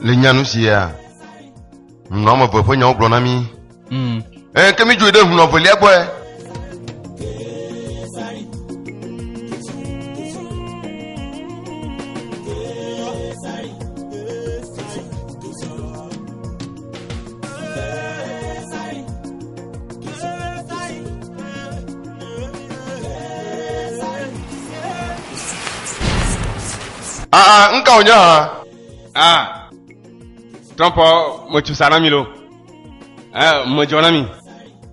Le nyanu sia, ŋunɔ ame eve ƒe nyawo gblɔ na mí. Mm. Eye ke mídzoe ɖe ŋunɔ velia gbɔe. Ah ah, nka wònye hã? Ah, Trump metsu sa na mi lo. Eh, medzɔ na mi.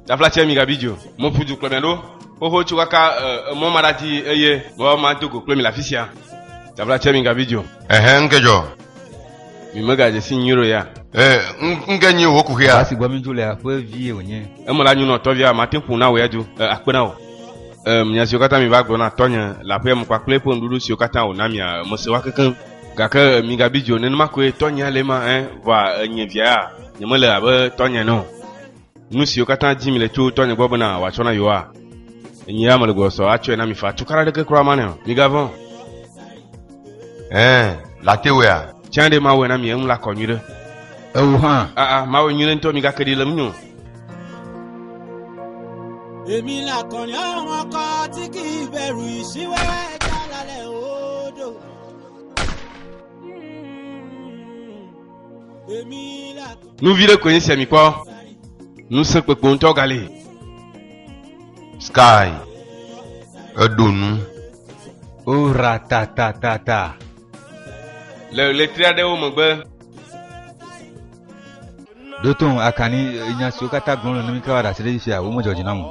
Tafla tse mi gabi dzo. Meƒu du kplɔ mia ɖo. Xoxo tso kaka eh, emɔ ma ɖadi eye mɔ ma do go kple mi le afi sia. Tafla tse mi gabi dzo. Ehe, nke dzɔ. Mi megadze si nyuie ɖo ya. Eh, n- nke nyi wò kuxia. Ame si gbɔ mi dzo lea ƒe vie wònye. Eme la nyunɔ tɔvia mate ƒo na wò ya du eh, akpe na wò. Em, nya siwo katã miva gblɔ na tɔnye le aƒea me kpakple eƒe nuɖuɖu siwo katã wòna mia, mese woa kekeŋ. Gake migabi dzi o, nenema koe tɔnyea le ema, ẽ, vɔa enye via ya, nyemele abe tɔnye ene o. Nu siwo katã dim le tso tɔnye gbɔ bena wòatsɔ na yewoa, nye ya mele gbɔsɔsɔ atsɔe na mi faa, tukana aɖeke kura manɛ o. Migavɔ̃ o. Ẽ, latewea? Tsã ɖe mawɔe na mi, eŋu lakɔ nyuiɖe. Eo hã. Aa, mawɔe nyuiɖe ŋutɔ, migake ɖi le ŋunye o. èmi le akɔni àwọn ọkọ tí kì í bẹ̀rù ìṣíwẹ́ ẹja lálẹ́ odò. èmi le akɔni. nu vi ɖe koe nye sia mi kpɔ ŋusẽ kpekpe ŋutɔ gali sky eɖo nu ora tatatata le ɣletri aɖewo megbe ɖo to ŋu akani nya siwo katã gblɔm le nɔmi kawa ɖe asi ɖe dzi fia womedzɔ dzi nam o.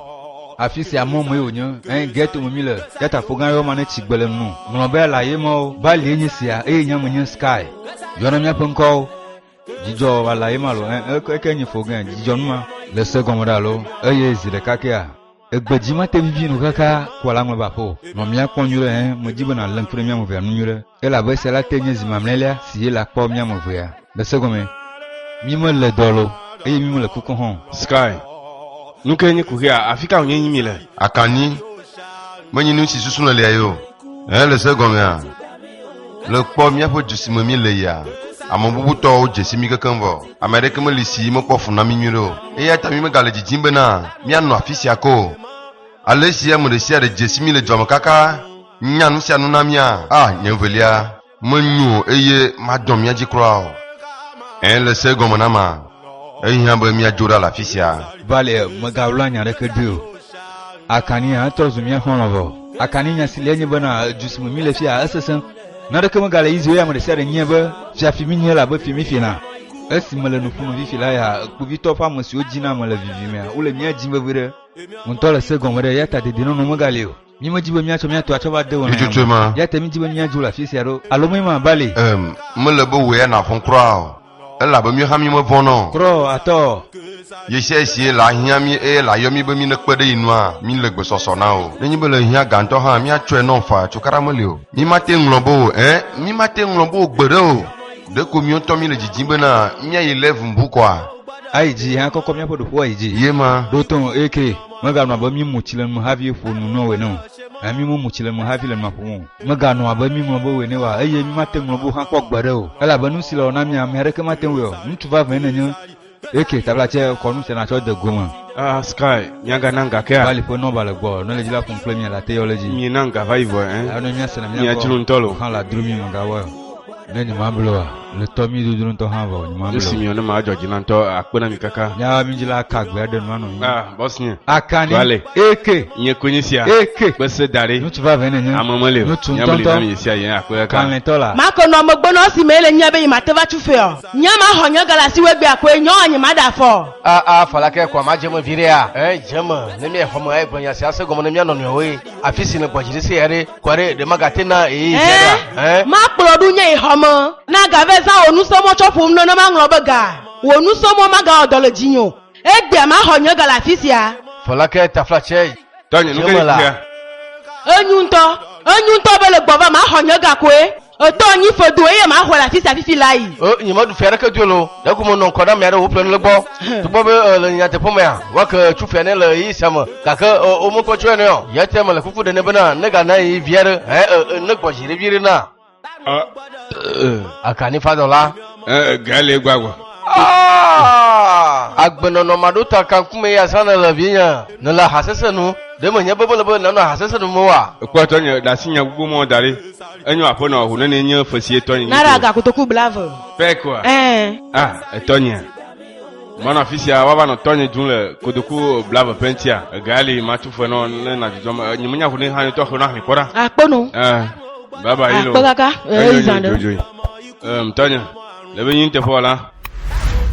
Afi sia mɔ mɔe wònye, eye gɛto me mi le, ɖatafo gã yɔma ne tsi gbe le ŋu. Ŋlɔ be la ye mɔwo, Balie nye sia, eye nye ame nye Sky. Yɔ na míaƒe ŋkɔwo. Dzidzɔ wa la ye ma lo, ɛ, eke nye fo gɛ, dzidzɔ nu ma. Le se gɔme ɖa lo, eye zi ɖeka kea. Egbe dzi mate vivi nu xexea kua la ŋlɔba ƒe o. Nɔ mía kpɔm nyuiɖe hẽ, medi be nàlém kple mía ame evea nu nyuiɖe, elabe esia la te nye zi mamlɛlia si Yela kpɔ mía ame evea le segɔme. Mí me le dɔ lo eye mí me le kuko hã o. Sky, Nuke nye kuxia? Afika wònye yim mi le? Akanni, Menyi nusi susu le lia ye o. Eye le se gɔmea, le kpɔ míaƒe du si me míle yia, ame bubutɔwo dze si mí kekeŋ vɔ. Ame aɖeke meli si mekpɔ fu na mí nyuiɖe o. Eya ta mímegale didim bena míanɔ afi sia ke o. Alesi ame ɖesiaɖe dze si mí le dua me kaka nya nusianu na mía, ah, nye velia! Menyo eye madɔ mia dzi kura o. Ẽ, le se gɔme na ma, ehiã be miadzo ɖa le afi sia. Vale, mègaɣla nya aɖeke ɖoe o. Akani hã trɔ zu mía xɔlɔ̃vɔ. Akani nya si le enye bena du si me míle fia esesẽ. Naneke megale Israel ya ame ɖe sia ɖe nyae be fia fi míenye, elabe fi míefiena. Esi mele nu ƒom fifi la ya, kpovitɔ ƒe ame siwo dzina mele vivimea, wole mía dim vevie ɖe. Wò ŋutɔ le se gɔme ɖe eya ta dedienɔnɔ megale o. Mi me dzi be miatsɔ mia tɔ atsɔ va de wò nɔnɔme. Tututu ma. Ya te mi dzi be mia dzo le afi sia ɖo. Alo me ma bali. Em, me le be wò ya navɔn kura o. Ela be mi hã mi me vɔn nɔ. Krɔ atɔ. Yesia esie la hiã mi eye la yɔ mi be mi ne kpe ɖe yi nua, mi le gbesɔsɔ na o. Ne nyi be le hiã gantɔ hã, mia tsɔe nɔn faa, cukaɖa me li o. Mi ma te ŋlɔ be o, ɛn, mi ma te ŋlɔ be o gbe ɖe o. Ɖeko miɔ ŋutɔ mi le dzidzim be na mia yi lɛvu ŋbu kɔa? Ayi dzi, hã kɔkɔ miaƒe ɖoƒoa yi dzi. Ye ma. Ɖo tɔn eke. Meganɔ abe míemu tsi le nu me havi ƒo nu nɔ wò ene o, ɛ̃, mímemu tsi le nu me havi le nua ƒom o. Meganɔ abe míeŋlɔ be wò ene o, eye mímate ŋu ŋlɔ be wò hã kpɔ gbeɖe o, elabe nu si le wɔ na mía, ame aɖeke mate ŋu awɔe o. Ŋutsu vavãe nènye. Eke, tabla tsɛ, kɔ nu sia nàtsɔ de go me. A, Sky, míaganam gakea? Vali ƒe nɔba le gbɔ, ne le dzi la ƒom kple mía le ate yɔ le dzi. Mina ŋga va yi vɔe, ɛ̃, Elabe ne míase ne mía gbɔ, míadzro ŋutɔ loo. Hã la dro mí, mègawɔe o. Ne nyemable oa, le tɔ mi dodro ŋutɔ hã vɔ nyemable. Esi mi ne ma dzi na ŋutɔ akpe na mi kaka. Nyawa mi dzi la aka gbe aɖe nua nɔ mi. Ah, boss nye. Aka ni. Wale. Eke. Nye konyi sia. Eke. Kpese da ɖi. Ŋutsu va vɛ ne nye. Ame mele. Ŋutsu ŋutɔ ŋutɔ. Nyamli sia yɛn akpe kaka. Kanlɛ tɔ la. Ma konɔ megbe nɔ esi me le nyia be yi ma te va tsu fɛ ɔ. Nyia ma xɔ nye gala si wegbe akoe nyɔ ɔ nye ma ɖa fɔ. Ah ah fala ke kɔa ma dze me viɖe a. Eh dze me ne mi exɔ me egble nya sia se gɔme ne mia nɔnɔewoe. Afisi le gbɔdzi ɖe se ya ɖe. Kɔɖe ɖe magate na eyi eh, zɛɖa. Eh? Makplɔ ɖu nye yi xɔme. Na gave zã wò nusɔmɔ tsɔ ƒom nɔ ne maŋlɔ be ga. Wò nusɔmɔ magawɔ dɔ le dzinye o. Egbea maxɔ nye ga le afi sia. Fɔlake taflatsɛ. Tɔnye nu ke nye Enyu ŋutɔ. Enyu ŋutɔ be le gbɔva maxɔ nye ga koe. Etɔ nyi fedo eye ma xɔe le afi sia fifi la yi. E, nye meɖu fia ɖeke dolo, ɖe ko menɔ ŋkɔ na mia ɖe wo ƒle nulegbɔ. Tukpɔ be e, le nyateƒe mea, wake tsu fia ne le yi sia me, gake e, o mekpɔ tsu ene o. Ya te mele kuku ɖe ne bena, ne ga na yi via ɖe, hɛ e, e, ne gbɔ zi ɖe vi ɖe na. E, e, aka ni fadɔ la. E, e, ga le gbagba. Ah! Agbenɔnɔ maɖo ta kankume ya zã ne le vi nye, ne le hasese nu, ɖe me nye be mele be nanɔ hasese nu me wa. Ekpɔtɔ nye ɖasi nya gbogbo mɔ da ɖi. Enyo aƒenɔ ŋu ne nye ƒe si etɔ nye. Nara ga kotoku blave. Pɛ koa? Ɛɛ. Ah, etɔ nye. Manɔ afi sia woava nɔ tɔnye dzum le kotoku blave ƒe ŋutia. Ega li matu fe nɔ ne nadzudzɔ me. Nye menya ŋu ne hã tɔ xlẽ ahli kpɔ ɖa. Akpɔ no. Eh, baba yi lo. Akpɔ kaka. Eh, izan ɖe. Dzodzoi. Eh, tɔnye. Le be nyi teƒe wala.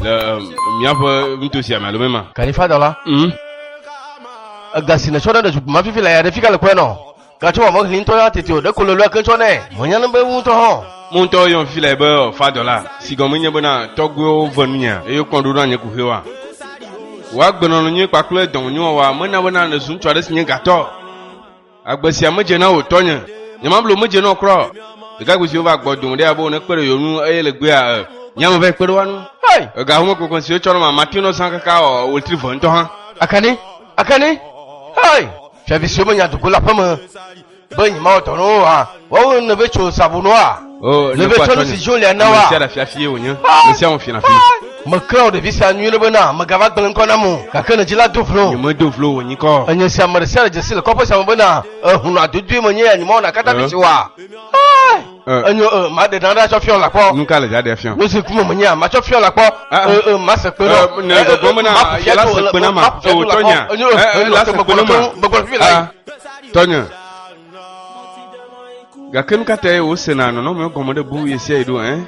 Le eh, miaƒe nutosia me alo mema. Kalifadɔ la. Mm. Ega si netsɔ ɖe ɖe zukpuma fifi le ya ɖe fika le kɔe nɔ. Gatsɔ wɔ meɣli ŋutɔ ya tete o, ɖeko lolo ake tsɔ nɛ. Menya nu be ŋu ŋutɔ hã. Mo ŋutɔ yɔm fi le be ɔ fa dɔla, si gɔme nye bena tɔgbuiwo ve nunye eye wokpɔn ɖoɖo na nye kuxi wa. Wò agbe nɔnɔ nyui kpakple dɔwɔ nyui wɔwa mena bena nèzu ŋutsu aɖe si nye gatɔ o. Agbe sia medze na wò tɔnye. Nye mable wò medze na wò kura o. Ɖekakpui siwo va gbɔ dome ɖe ya be wò ne kpe ɖe yewo nu eye le gbeya ɛ nye ame va yi kpe ɖe woa nu. Hey! Ega home kpekpe siwo tsɔ na ma ma teo nɔ zã kaka ɔ wòltri ve ŋutɔ hã. Akani? Ake ni, hei, fiavi siwo menya dogo le aƒe me be nyemawɔ dɔ na wo oa, woawo ne ve tso sabu nu oa? Oh, Ne ve nekpɔ tsɔ nu atsɔnye. si dzi le na Ame woa? sia ɖe fiafi ye wònye. Ame sia ŋu fiafi. Meklã wò ɖevi sia nyuie ɖe bena megava gblẽ ŋkɔ nam o, gake ne dzi la do vlo. Nyemedo vlo wò nyikɔ o. Enye sia ame ɖe sia ɖe dzesi le kɔƒe sia me bena ehunɔ adodoe menye ya nyemawɔ na kata Eh. vi si oa? enyo eh. eh, ma de dan da tsɔ fiɔ la kpɔ. nu ka le jaɖe fiɔ. nu si kuma me nya ma tsɔ fiɔ la kpɔ. Ah, ah. Eh, ma se kpe nɔ. ne gbɔgbɔ mena yala se kpe na ma o tɔnya la se kpe na ma tɔnya gake nu ka ta ye wosena nɔnɔme gɔme ɖe bu yesia yi ɖo ɛ.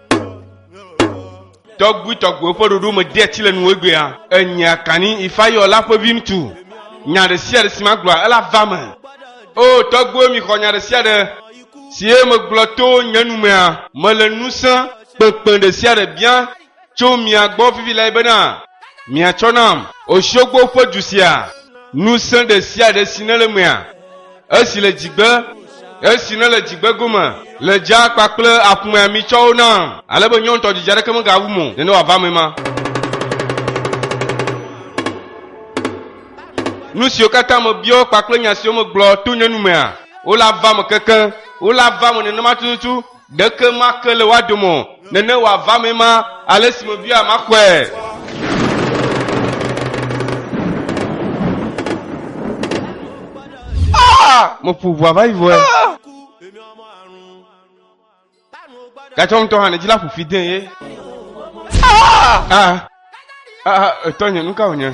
tɔgbuitɔgbuiwo ƒe ɖoɖo me dea tsi le nuwo gbea enyea kani ifayɔ la ƒe viŋutsu nya ɖe sia ɖe si magblɔa ela va me o tɔgbuiwo mixɔ nya ɖe sia ɖe si ye megblɔ to nye nu mea mele ŋusẽ kpekpe ɖe sia ɖe bia tso mia gbɔ vivi lae bena miatsɔ nam osiogbo ƒe du sia ŋusẽ ɖe sia ɖe si nele mea Esi le dzigbe, esi nele dzigbe gome, le dzaa kpakple aƒumea mi tsɔwo nam, ale be nyɔŋtɔ didi aɖeke megawum o, nene wòava eme ma. Nu siwo katã mebiɔ kpakple nya siwo megblɔ to nye numea, wole ava eme kekeŋ, wole ava eme nenema tututu, Ɖeke make le woa dome o, nene wòava mee ma, ale si mebia maxɔe. Ah! Meƒo ʋua va yi vɔe. Gatsɔ ŋutɔ hã nedzi la ƒofi dee ye. Ah! Ah! Ah! Etɔ nye, nu ka wònye?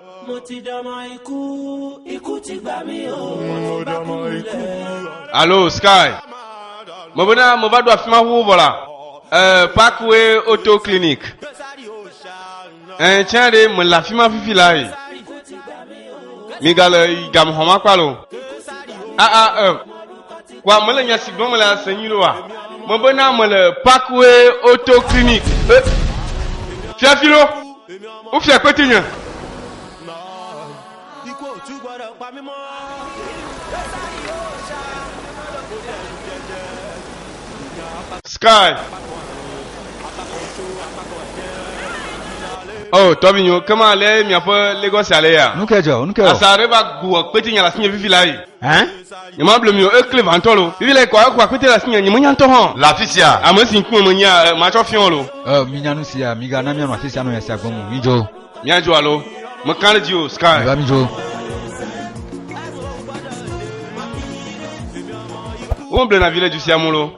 Alo Sky. Mo bena mo va ɖo afi ma ŋu vɔ la. Eh, Parkway Auto Clinic. Eh, tiens ɖe me le afi ma fifi la yi. Mi ga le gamuxɔ ma kpa lo. Ah ah eh. Wa me le nya si gblɔm le ase nyi lo wa. Mo bena me le Parkway Auto Clinic. Eh. Fiafi lo. Wofia kpeti nye. Sky. Oh, tɔvinyo, kema lé miaƒe Lagos ale ya. Nuke dzɔ, nuke wɔ. Asa ɖe va gu kpeti nye la sinye vivi la yi. Hein? Nyemable mi o, ekle vantɔ lo. Vivi le kɔ aku akpete le asinye, nyemenya ŋutɔ hã. Le afi sia. Ame si ŋkume menyea, eh, matsɔ fiɔ lo. Ɛ, minya nu sia, migana mianɔ afi sia nɔ nya sia gblɔm o. Midzo. Míadzo alo? Mekã ɖe dzi o, Sky. Miva midzo. Womeblena vi le du sia mu lo.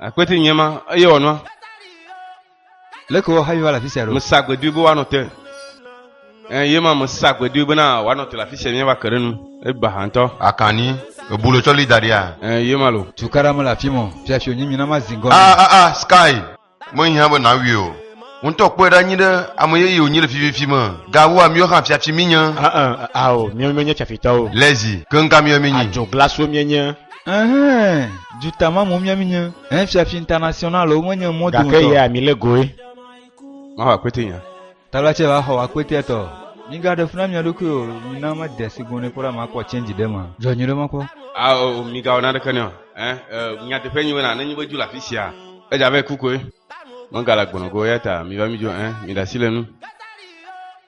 Akpeti nye ma eye wòanɔ. Leke woahavi va le afi sia ɖo? Mesa gbedoe be woanɔ te. Eye ma mesa gbedoe bena woanɔ te le afi sia míava ke ɖe nu. Eba ha ŋutɔ. Akani, ebu le tsɔ li da ɖia? Eye ma lo. Tukaɖa mele afi mɔ. Fiafi wònyi mina mazi ŋgɔ nɛ. Ah ah ah Sky, mehiã be nawui o. Wò ŋutɔ kpɔe ɖa nyuiɖe, ame yeye wònyi le fififi me. Gawu amiwo hã fiafi mínye. Ah ah ah ao, míawo míenye fiafitɔwo. Lezi, keŋ ka míawo mínyi? Adzoglaswo míenye. Ɛhɛn, duta ma mo mia minye. Ɛhɛn, fiafi international o, menye mɔ do Gake yea mi le goe. Maho akpete nya. Tala tse va xɔ akpete tɔ. Mi ga ɖe funa mia ɖokui o, mi na me de sigun ne kpɔɖa ma kpɔ change ɖe ma. Jɔ nyi ɖe ma kpɔ. A o, mi ga wɔna ɖeke ne o. Ɛ, ɛ, nya teƒe nyi wena, ne nyi be ju la fisia. Eja ve kukoe. Mega la gbɔnɔ go, yata mi va mi jo, ɛ, mi ɖasi le nu.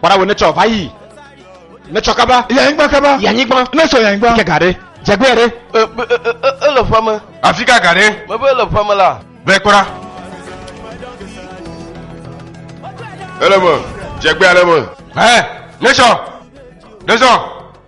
Kpɔɖa wò netsɔ va yi. Netsɔ kaba. Yanyigba kaba. Yanyigba. Netsɔ yanyigba. Ke ga ɖe. Dzegbea ɖe. Ele ƒua me. Afi ka ga ɖe. Mebe ele ƒua me la. Vɛ kpɔɖa. Ele me. Dzegbea ɖe me. Hɛ. Netsɔ. Netsɔ.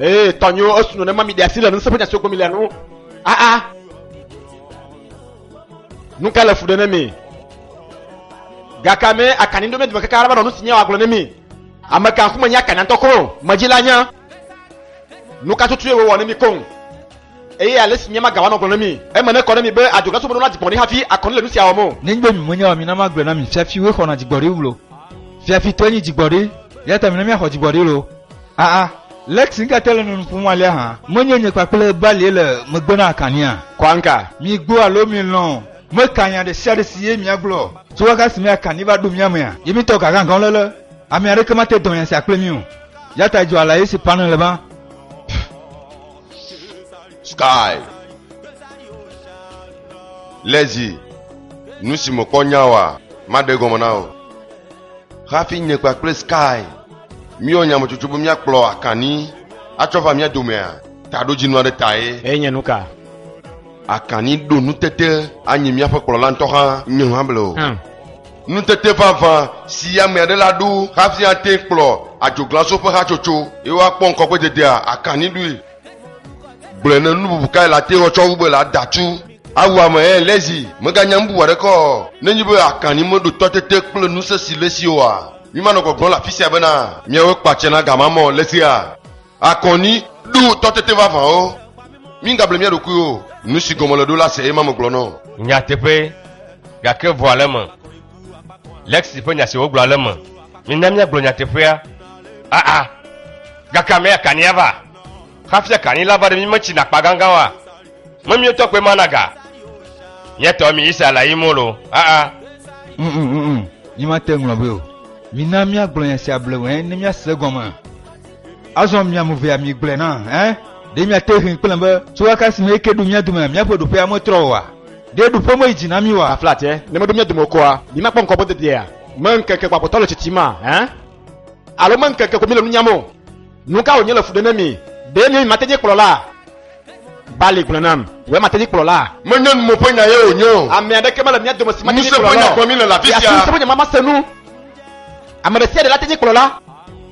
Ee, tɔnyo esu nɔ ne ma mi ɖe asi le nusẽ ƒe nya siwo gblɔm mi le nu. Aa, ah, ah. nu ka le fu ɖe ne mi? Gake me akani ɖo me dome kaka araba nɔ nu si nya wòagblɔ ne mi. Ame kan ku menye akani ŋutɔ ko, medzila nya. nu ka tutu ye wòwɔ ne mi koŋ eye ale si míama gawa nɔ gblɔ ne mi. Eme nekɔ ne mi be adzɔglasubɔdɔ na dzigbɔɖi hafi akɔnu le nu sia wɔm o. Nenye mi menya o la, mina magblɔe na mi, fiafiwoe xɔna dzigbɔɖi wlo. Fiafitɔe nyi dzigbɔɖi, eya ta mina míaxɔ dzigbɔɖi lo. Aa, Lexi, nu ka tae nèle nu ƒom alea hã? Menye nye kpakple Balie le megbe na Akania? Kwanka. Migbo alo milɔ̃, meka nya ɖe sia ɖe si ye miagblɔ. Tso ɣeaɣea si me Akani va ɖo mía mea, ye míetɔ gagagãwo lele, ame aɖeke mate dɔ nya sia kple mí o. Ya ta dzɔa la esi pane le ba. Sky. Lezi. Nu si mekpɔ nya wa, maɖe gɔme na o. Hafi nye kpakple Sky míewɔ nyametsotso be míakplɔ Akanni atsɔ va mía domea, taɖodzinu aɖe tae. Eye nye nuka? Akanni ɖo nutete anyi míaƒe kplɔla ŋutɔ hã. Nye hã ble o. Hm. Nutete vavã si ame aɖe la ɖo hafi ate kplɔ adzoglaso ƒe hatsotso ye woakpɔ ŋkɔgbededea akaniɖoe. Gblɔe ne nububu kae la te ŋu tsɔ wu be la da tu awu ame eye le zi meganya nububu aɖeke o. Ne enye be akani meɖo tɔ tete kple ŋusẽ si le esi oa, mimanɔ gbɔgblɔm le afisia bena, Miawoe kpɔ atsɛ na gamame o, le sia. Akɔni, Ɖo tɔ tete vavãwo. Mígable mía ɖokuiwo o. Nu si gɔme le ɖo la se eye ma megblɔ nɔ o. Nyateƒe, Gake vɔa le eme. Lexi ƒe nya si wògblɔ ale me, Mina míagblɔ nyateƒea. Aa, gake ame ya kani ava? Hafi akani la va ɖe mí metsina akpa gãgã oa? Me míawo tɔ koe mana ga? Mía tɔ mi Israel la yim wolo? Aa. Uumm, nyemate ŋu ŋlɔ be o. Mina míagblɔ nya sia bleŋue ne míase egɔme. Azɔ mia mu vea mi gblɔe na ɛ ɖe mia te hin kple be tso aka si me eke ɖu mia dome miaƒe ɖoƒea metrɔ oa ɖe ɖoƒe me yi dzi na mi oa flat ɛ ne meɖo mia dome o koa mi makpɔ ŋkɔ be dedea me ŋkeke gbagbatɔ le tsitsi ma ɛ alo me ŋkeke ko mi le nu nyam o nu ka wònye le fu ɖe ne mi ɖe mi mate nye kplɔla bali gblɔ nam wòe mate nye kplɔla menye nu mo ƒe nya ye wònye o ame aɖeke mele mia dome si mate nye kplɔla o ŋusẽ ƒe nya gblɔ mi le la fi sia ŋusẽ ƒe nya ma mase nu ame ɖe sia ɖe la te nye kplɔla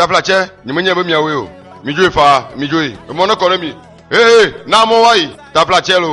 taflatsɛ nyemenye be miawoe o midzoe faa midzoe emɔ ne kɔ ɖe mi ee na mɔ wayi taflatsɛ lo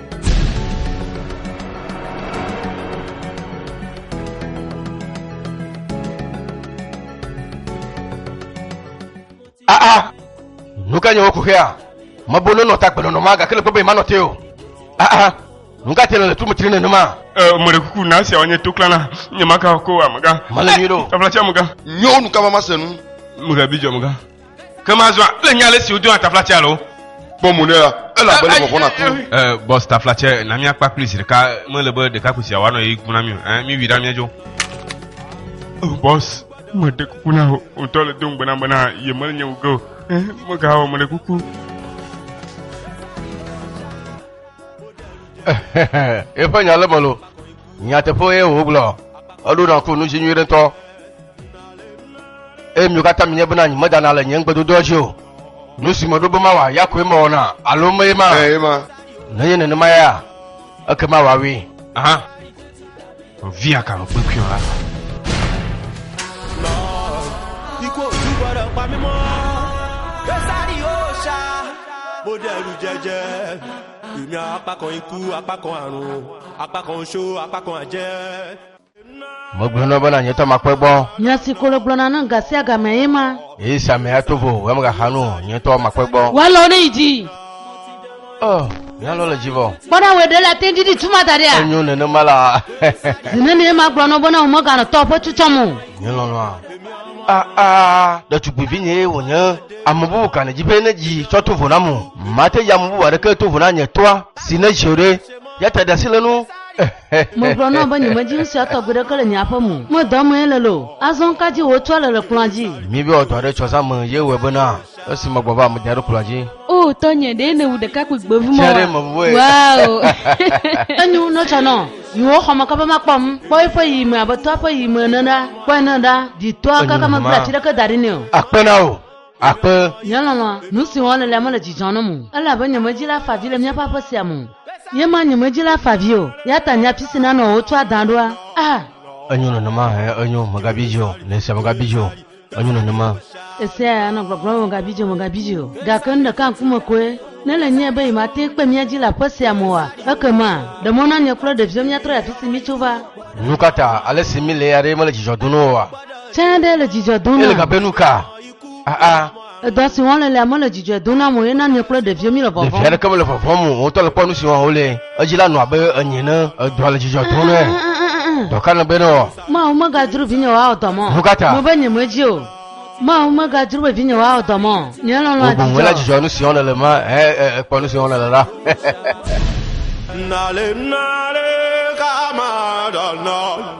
Ah ah Nu ka nye woku xea? Mebo nonɔ ta gbenɔnɔ ma gake le kpɔ be manɔ te o. Ah ah Nu ka te le le tu metri nenema? Eh, mele kuku na sia wanye to klana. Nye maka ko amega. Mele nyuie ɖo. Taflatsi amega. Nyɔnu ka mama se nu? Mega bi djɔ amega. Ke mazɔa, ele nya ale si wodona taflatsɛ alo. Kpɔ mo nɛ la, elabe ne vɔvɔ̃ naku. Ɛ, bɔs taflatsɛ, na míakpa kpli zi ɖeka. Mele be ɖekakpui sia wòanɔ ɣeyiɣi kum na mí o. Ɛ, míwui ɖa míadzo. O, bɔs, meɖe kuku na wò. Wò ŋutɔ le do ŋugbe nam bena yemele nye wu ge o. Ɛ, megawɔ, meɖe kuku. Eƒe nya le eme loo. Nyateƒe ye wògblɔ. Eɖo nakpɔ nu dzi nyuie ɖe ŋutɔ. Eye mi katã mi nye bena nyi medana le nye ŋugbedodoa dzi o. Nu si meɖo be mawɔ ya koe mewɔna, alo mee ma? Ee, ma. Nenye nenema ya, ekema wòawui. Aha. Via ka nu kpekpeo la. Besa di osa, modelu jẹjẹ. Ìnya akpa kɔ ŋku, akpa kɔ anu, akpa kɔ ŋutsu, akpa kɔ adze. Megblɔ na wò bena nyetɔ makpɔe gbɔ. Nya si ko wògblɔna nam gasiagamea ye ma. Eye esi ame ato vo wò ɣemaɣaxa nu o, nye ŋutɔ makpɔe gbɔ. Wò alɔwo neyi dzi. O, nye alɔ le dzi vɔ. Kpɔ ɖa, wòe ɖe la te ŋdi ɖi tu ma da ɖia? Enyo nenema la. Zi nenie magblɔ na wò bena wòmeganɔ tɔwò ƒe tu tsɔm o? Nye lɔlɔ̃a. Aa, ɖetugbuivinyee wònye. Ame bubu ka nèdi be nedzi tsɔ to vo nam o? Mate dzi ame bubu aɖeke to vo na nye toa si nedzi o ɖe. Ya ta ɖe asi le enu. Megblɔ na wò be nyemedzi nu sia tɔgbi ɖeke le nye aƒe me o. Medɔ amee lelo. Azɔ nu ka dzie wòetsɔa le le kplɔ̃a dzi? Míbe wòadɔ aɖe etsɔ zã me ye wɔe bena. Esi megbɔ va medze ɖo kplɔ̃a dzi. O tɔnye, ɖe nèwu ɖekakpui gbevumɔ Tia ɖe mevuvɔ wa? ye. Waoo. Enyo wu nɔtsɔ nɔ yiwo xɔme kaba makpɔ ŋ. Kpɔ eƒe yiyime abe tɔa ƒe yiyime ene ɖa. Kpɔe ne ɖa, ɖitɔa Enyo kaka meble hã. atsi ɖeke da ɖi nɛ o. Akpe na wò. Akpe. Nye lɔlɔ̃a, nu si wɔm nèlea mele dzidzɔ nam o, elabe nye medzila afa avi le míaƒe aƒe sia me o. Ye ma nye medzila afa avi o, ya ta nye afi si nanɔ o wotsɔ adã ɖoa? Ah! Enyo nenema, ɛ̃, enyo, mègabi dzi o, le esia mègabi dzi o. Enyo nenema. Esea ya nɔ gbɔgblɔm be mègabidzo, mègabidzo o. Gake nu ɖeka ŋkume koe nèle nyae be yemate ŋu kpe mía dzi le aƒe sia me oa? Ekema, ɖe mɔ na nye kple ɖeviwo míatrɔ yi afi si míetso va. Nukata ale si míle ya ɖe mele dzidzɔ dom na wò oa? Tsã ɖe le dzidzɔ dom nam. Ele gabea nuka? Aa. Edɔ si wɔm le lea mele dzidzɔe dom nam o eye na nye kple ɖeviwo míele vɔvɔ̃m. Ɖevi aɖeke mele vɔvɔ̃m o. Wotɔ le kpɔ nu si wɔm wole. Edzi la nɔ abe enye ene. Edɔa le dzidzɔ dom nɛ. Dɔ ka nègbe nɔ? Mawu megadzro vinyewo awɔ dɔ mɔ. Nukata? Mebe nyemedzi o. Mawu megadzro be vinyewo awɔ dɔ mɔ. Nye lɔlɔ̃ adzidzɔ. Wò boŋ èle dzidzɔ nu si wɔm nèle ma he ekpɔ nu si wɔm nèle la.